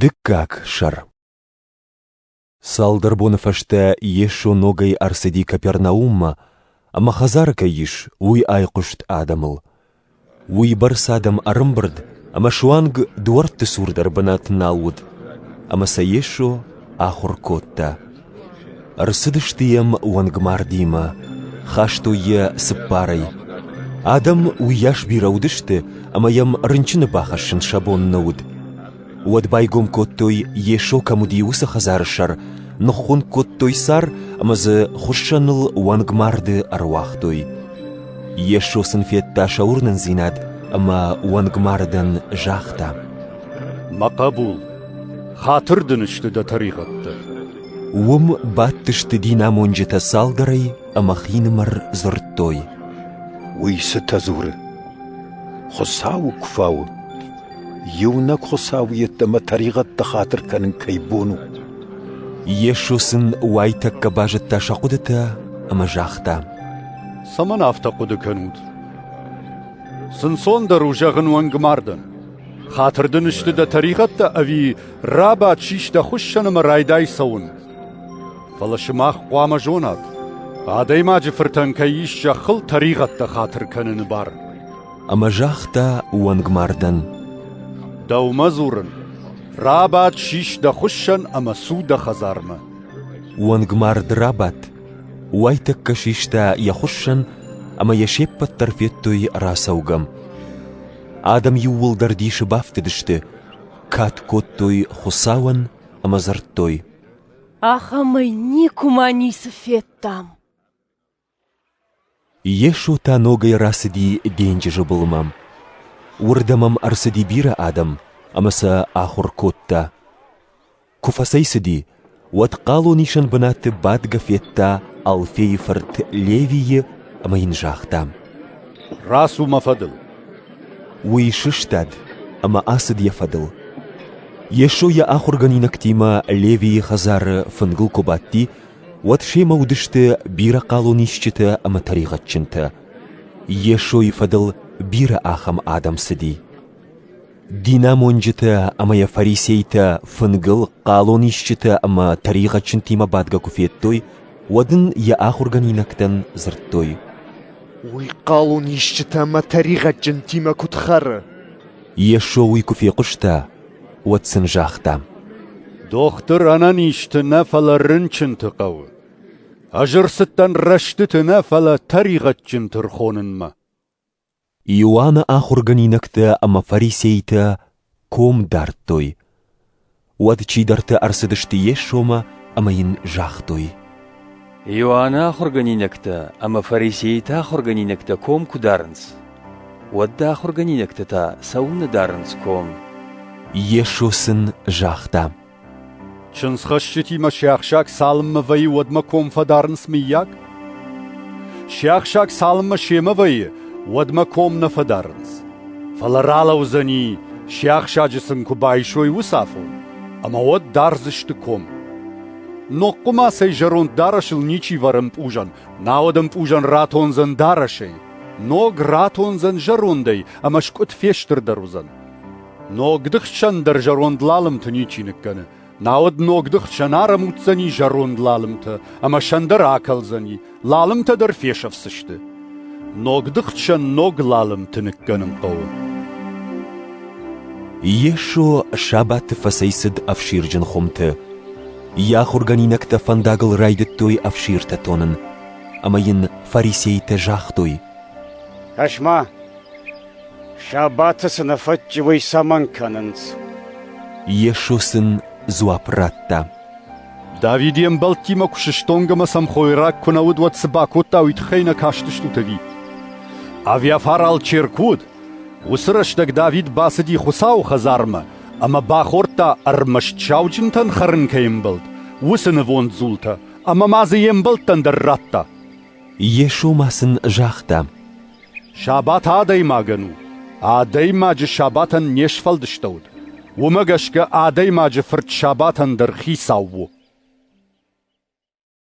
Дыккаг сӕр Цалдӕр боны фӕстӕ Йесо ногӕй ӕрцыди Капернауммӕ, ӕмӕ хӕдзары кӕй ис, уый айхъуыст адӕмыл. Уый бӕрц адӕм ӕрымбырд, ӕмӕ суанг дуӕртты цур дӕр бынат нал уыд. Ӕмӕ сӕ Йесо ахуыр кодта. Ӕрцыдысты йӕм уӕнгмардимӕ, хастой йӕ цыппарӕй. Адӕм уыйас бирӕ уыдысты, ӕмӕ йӕм рынчыны бахӕссын сӕ бон нӕ уыд. Уӕд байгом кодтой, Йесо кӕм уыди, уыцы хӕдзары сӕр, ныххуынкъ кодтой сӕр ӕмӕ дзы хуыссӕныл уӕнгмарды ӕруагътой. Йесо сын федта сӕ уырнындзинад ӕмӕ уӕнгмардӕн загъта: Мӕ хъӕбул, хатыр дын сты дӕ тӕригъӕдтӕ. Уым бадтысты динамонджытӕ цалдӕрӕй ӕмӕ хинымӕр дзырдтой. Уый цытӕ дзуры? Хуыцауы куы фауы. Иунӕг Хуыцау йеддӕмӕ тӕригъӕдты хатыр кӕнын кӕй бон у. Йесо сын уайтӕккӕ базыдта сӕ хъуыдытӕ ӕмӕ загъта. Цӕмӕн афтӕ хъуыды кӕнут? Снцондӕр у зӕгъын уӕнг мардӕн. Хатыр дын сты дӕ тӕригъӕдтӕ ӕви рабадт сис дӕ хуыссӕн ӕмӕ райдай цӕуын? Фӕлӕ сымах хъуамӕ зонат, адӕймаджы фыртӕн кӕй ис зӕххыл тӕригъӕдтӕ хатыр кӕныны бар. Ӕмӕ загъта уӕнгмардӕн: Дӕумӕ дзурын, рабадт сис дӕ хуыссӕн ӕмӕ цу дӕ хӕдзармӕ. Уӕнгмард рабадт, уайтӕккӕ систа йӕ хуыссӕн ӕмӕ йӕ се ппӕт дӕр федтой рацӕугӕ. Адӕм иууылдӕр дисы бафтыдысты, кад кодтой Хуыцауӕн ӕмӕ дзырдтой: «Ахӕмӕй никуыма ницы федтам!» Йесо та ногӕй рацыди денджызы былмӕ. Уырдӕм ӕм ӕрцыди бирӕ адӕм, ӕмӕ сӕ ахуыр кодта. Куы фӕцӕйцыди, уӕд хъалонисӕн бынаты бадгӕ федта Алфейы фырт Левийы ӕмӕ йын загъта: «Рацу мӕ фӕдыл!» Уый сыстад ӕмӕ ацыд йӕ фӕдыл. Йесо йӕ ахуыргӕнинӕгтимӕ Левийы хӕдзары фынгыл куы бадти, уӕд семӕ уыдысты бирӕ хъалонисджытӕ ӕмӕ тӕригъӕдджынтӕ. Йесойы фӕдыл бирӕ ахӕм адӕм цыди. Динамонджытӕ ӕмӕ йӕ фарисейтӕ фынгыл хъалонисджытӕ ӕмӕ тӕригъӕдджынтимӕ бадгӕ куы федтой, уӕд ын йӕ ахуыргӕнинӕгтӕн дзырдтой: «Уый хъалонисджытӕ ӕмӕ тӕригъӕдджынтимӕ куыд хӕры?» Йесо уый куы фехъуыста, уӕд сын загъта: «Дохтыр ӕнӕнизты нӕ, фӕлӕ рынчынты хъӕуы. Ӕз ӕрцыдтӕн рӕстыты нӕ, фӕлӕ тӕригъӕдджынты рхонынмӕ». Иоанны ахуыргӕнинӕгтӕ ӕмӕ фарисейтӕ ком дардтой. Уӕд чидӕртӕ ӕрцыдысты Йесомӕ ӕмӕ йын загътой: Иоанны ахуыргӕнинӕгтӕ ӕмӕ фарисейты ахуыргӕнинӕгтӕ ком куы дарынц, уӕд дӕ ахуыргӕнинӕгтӕ та цӕуылнӕ дарынц ком? Йесо сын загъта: Чындзхӕсджытимӕ сиахсаг цалынмӕ вӕййы, уӕдмӕ ком фӕдарынц, мыййаг? Сиахсаг цалынмӕ семӕ вӕййы, уӕдмӕ ком нӕ фӕдарынц. Фӕлӕ ралӕудзӕни, сиахсаджы сын куы байсой уыцы афон, ӕмӕ уӕд дардзысты ком. Ногхъуы ма цӕй зӕронд дарӕсыл ничи вӕры ӕмпъузӕн, науӕд ӕмпъузӕн ратондзӕн дарӕсӕй. Ног ратондзӕн зӕрондӕй ӕмӕ скъуыд фестырдӕр уыдзӕн. Ногды хсӕн дӕр зӕронд лалымты ничи ныккӕны. Науӕд ногды хсӕн ӕрӕмуддзӕни зӕронд лалымтӕ ӕмӕ сӕн дӕр акӕлдзӕни, лалымтӕ дӕр фесӕфдзысты. Ногды хсӕн ног лалымты ныккӕнын хъӕуы. Йесо сабаты фӕцӕйцыд ӕфсирджын хуымты. Йӕ ахуыргӕнинӕгтӕ фӕндагыл райдыдтой ӕфсиртӕ тонын, ӕмӕ йын фарисейтӕ загътой: «Кӕс-ма, Сабаты цы нӕ фӕтчы, уый цӕмӕн кӕнынц? Йесо сын дзуапп радта. Давид йе мбӕлттимӕ куы сыстонг ӕмӕ сӕм хойраг куы нӕ уыд, уӕд цы бакодта, уый тыххӕй нӕ кастыстут ӕви? Авиафар алчер куы уыд, уыцы рӕстӕг Давид бацыди Хуыцауы хӕдзармӕ ӕмӕ бахордта ӕрмӕст сауджынтӕн хӕрын кӕй ӕмбӕлд, уыцы нывонд дзултӕ, ӕмӕ ма дзы йе мбӕлттӕн дӕр радта. Йесо ма сын загъта, «Сабат адӕймагӕн у. Адӕймаджы сабатӕн не сфӕлдыстӕуыд, уымӕ гӕсгӕ Адӕймаджы Фырт сабатӕн дӕр хицау у».